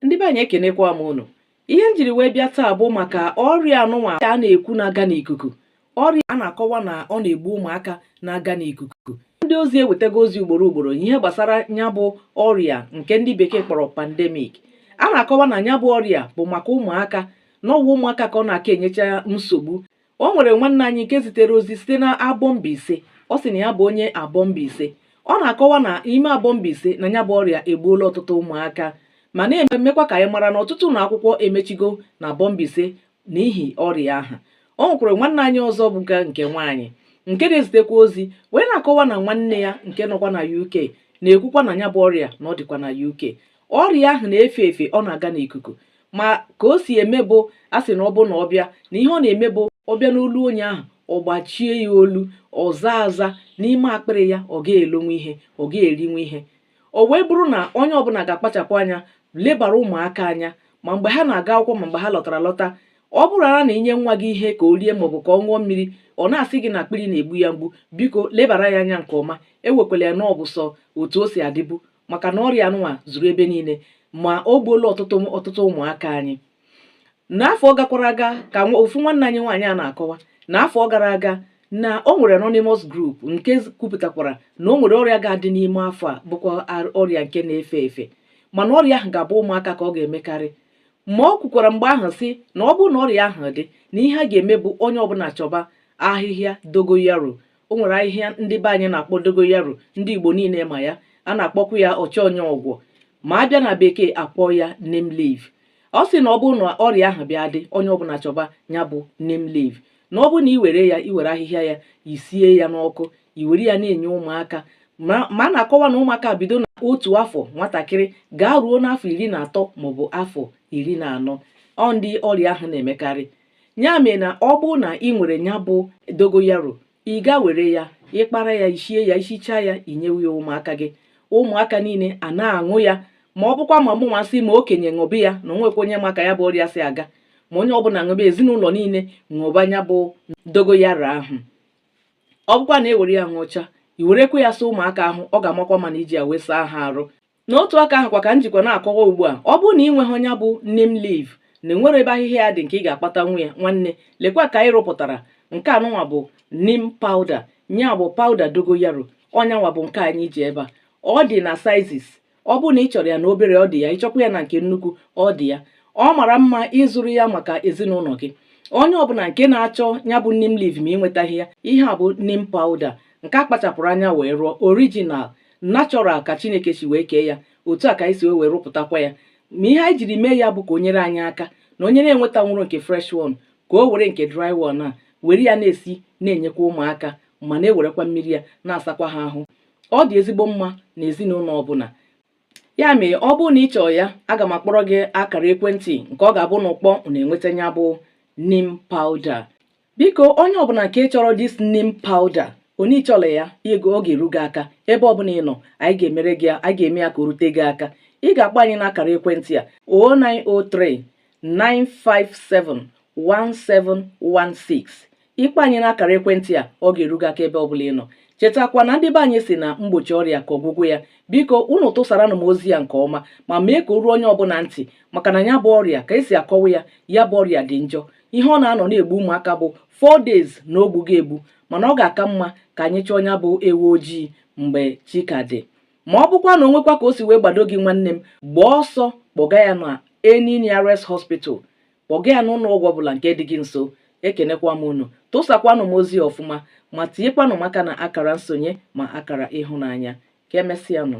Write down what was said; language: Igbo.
ndị be anyị ekenekwa m unu ihe m jiri wee bịa taa bụ maka ọrịa anụnwa a na-ekwu na-aga n'ikuku ọrịa a na-akọwa na ọ na-egbu ụmụaka na-aga n'ikuku ndị ozi ewetago ozi ugboro ugboro ihe gbasara nya bụ ọrịa nke ndị bekee kpọrọ pandemic a na-akọwa na nya bụ ọrịa bụ maka ụmụaka na ọwa ụmụaka ka ọ na-aka enyecha nsogbu o nwere nwanne anyị nke zitere ozi site na Abọ Mbaise ọ sị na ya bụ onye Abọ Mbaise ọ na-akọwa na ime Abọ Mbaise na nya bụ ọrịa egbuola ọtụtụ ụmụaka ma na-emekwa ka anyị mara na ọtụtụ ụlọ akwụkwọ emechigo na Abọ Mbaise n'ihi ọrịa ahụ o nwekwara nwanne anyị ọzọ bụkwa nke nwaanyị nke na-ezitekwa ozi wee na-akọwa na nwanne ya nke nọkwa na UK na-ekwukwa na nya bụ ọrịa na ọ dịkwa na UK ọrịa ahụ na-efe efe ọ na-aga n'ikuku ma ka o si eme bụ a sị na ọ bụ na ọ bịa na ihe ọ na-eme bụ ọ bịa n'olu onye ahụ ọ gbachie ya olu ọ zaa aza n'ime akpịrị ya ọ ga-elonwu ihe ọ ga-erinwu ihe o wee bụrụ na onye ọbụla ga-akpachapụ anya lebara ụmụaka anya ma mgbe ha na-aga akwụkwọ ma mgbe ha lọtara lọta ọ bụrụ ara na i nye nwa gị ihe ka o rie maọbụ ka ọ ṅụọ mmiri ọ na-asị gị na akpịrị na-egbu ya mgbu biko lebara ya anya nke ọma ewekwala ya na ọ bụ sọ otu o si adịbu maka na ọrịa anụnwa zuru ebe niile ma o gbuola ọtụtụ ụmụaka anyị n'afọ gakwara aga ka ofu nwanne anyị nwaanyị a na-akọwa na afọ gara aga na o nwere anonymous group nke kwupụtakwara na o nwere ọrịa ga-adị n'ime afọ a bụkwa ọrịa nke na-efe efe mana ọrịa ahụ ga-abụ ụmụaka ka ọ ga-emekarị ma o kwukwara mgbe ahụ sị na ọ bụrụ na ọrịa ahụ dị na ihe a ga-eme bụ onye ọbụla chọba ahịhịa dogoyaro o nwere ahịhịa ndị be anyị na-akpọ dogoyaro ndị Igbo niile ma ya a na-akpọkwa ya ọchọ onye ọgwọ ma a bịa na bekee a kpọọ ya neem leaf ọ sị na ọ bụrụ na ọrịa ahụ bịa dị onye ọbụla chọba ya bụ neem leaf na ọ bụrụ na ị were ya i were ahịhịa ya i sie ya n'ọkụ i were ya na-enye ụmụaka ma a na-akọwa na ụmụaka bido na otu afọ nwatakịrị gaa ruo n'afọ iri na atọ maọbụ afọ iri na anọ ọ ndị ọrịa ahụ na-emekarị ya mere na ọ bụrụ na ị nwere ya bụ dogoyaro ị ga-ewere ya ị kpara ya i shie ya i shichaa ya i nyewe ya ụmụaka gị ụmụaka niile a na-aṅụ ya ma ọ bụkwa ma mụnwa sị ma okenye ṅụbe ya na o nwekwa onye ma ka ya bụ ọrịa si aga ma onye ọbụla ṅụbe ezinụlọ niile ṅụba ya bụ dogoyaro ahụ ọ bụkwa na e were ya ṅụchaa i werekwa ya saa ụmụaka ahụ ọ ga-amakwa mma na i ji ya wee saa ha arụ N'otu aka ahụkwa ka m jikwa na-akọwa ugbu a ọ bụrụ na ị nweghị nya bụ neem leaf na e nwere ebe ahịhịa ya dị nke ị ga-akpatanwu ya nwanne lekwa ka anyị rụpụtara nke anụnwa bụ neem powder nya bụ powder dogoyaro ọ nyanwa bụ nke anyị ji ebe a ọ dị na sizes ọ bụrụ na ị chọrọ ya na obere ọ dị ya ị chọkwa ya na nke nnukwu ọ dị ya ọ mara mma ị zụrụ ya maka ezinụlọ gị onye ọbụla nke na-achọ ya bụ neem leaf ma ị nwetaghị ya ihe a bụ neem powder nke a kpachapụrụ anya wee rụọ original natural ka chineke si wee kee ya otu a ka anyị si wee wee rụpụtakwa ya ma ihe anyị jiri mee ya bụ ka o nyere anyị aka na onye na-enwetanwurọ nke fresh one ka o were nke dry one a were ya na-esi na-enyekwa ụmụaka ma na-ewerekwa mmiri ya na-asakwa ha ahụ ọ dị ezigbo mma na ezinụlọ ọbụla ya mere ọ bụrụ na ị chọọ ya aga m akpọrọ gị akara ekwentị nke ọ ga-abụ unu kpọọ unu enweta ya bụ neem powder biko onye ọbụla nke chọrọ this neem powder onye chọrọ ya ego ọ ga-eru gị aka ebe ọbụla ị nọ anyị ga-emere gị ya anyị ga-eme ya ka o rute gị aka ị ga-akpọ anyị n'akara ekwentị a 0903 957 1716 ị kpọọ anyị n'akara ekwentị a ọ ga-eru gị aka ebe ọbụla ị nọ chetakwa na ndị be anyị sị na mgbochi ọrịa ka ọgwụgwọ ya biko unu tụsaranụ m ozi ya nke ọma ma mee ka o ruo onye ọbụla ntị maka na ya bụ ọrịa ka e si akọwa ya ya bụ ọrịa dị njọ ihe ọ na-anọ na-egbu ụmụaka bụ 4 days na o gbuo gị egbu mana ọ ga-aka mma ka anyị chọọ ya bụ ewu ojii mgbe chi ka dị ma ọ bụkwa na o nwekwa ka o si wee gbado gị nwanne m gbaa ọsọ kpọga ya na any nearest hospital kpọga ya n'ụlọ ọgwụ ọbụla nke dị gị nso ekenekwa m unu tụsakwanụ m ozi ọfụma ma tinyekwanụ m aka na akara nsonye ma akara ịhụnanya ka emesịanụ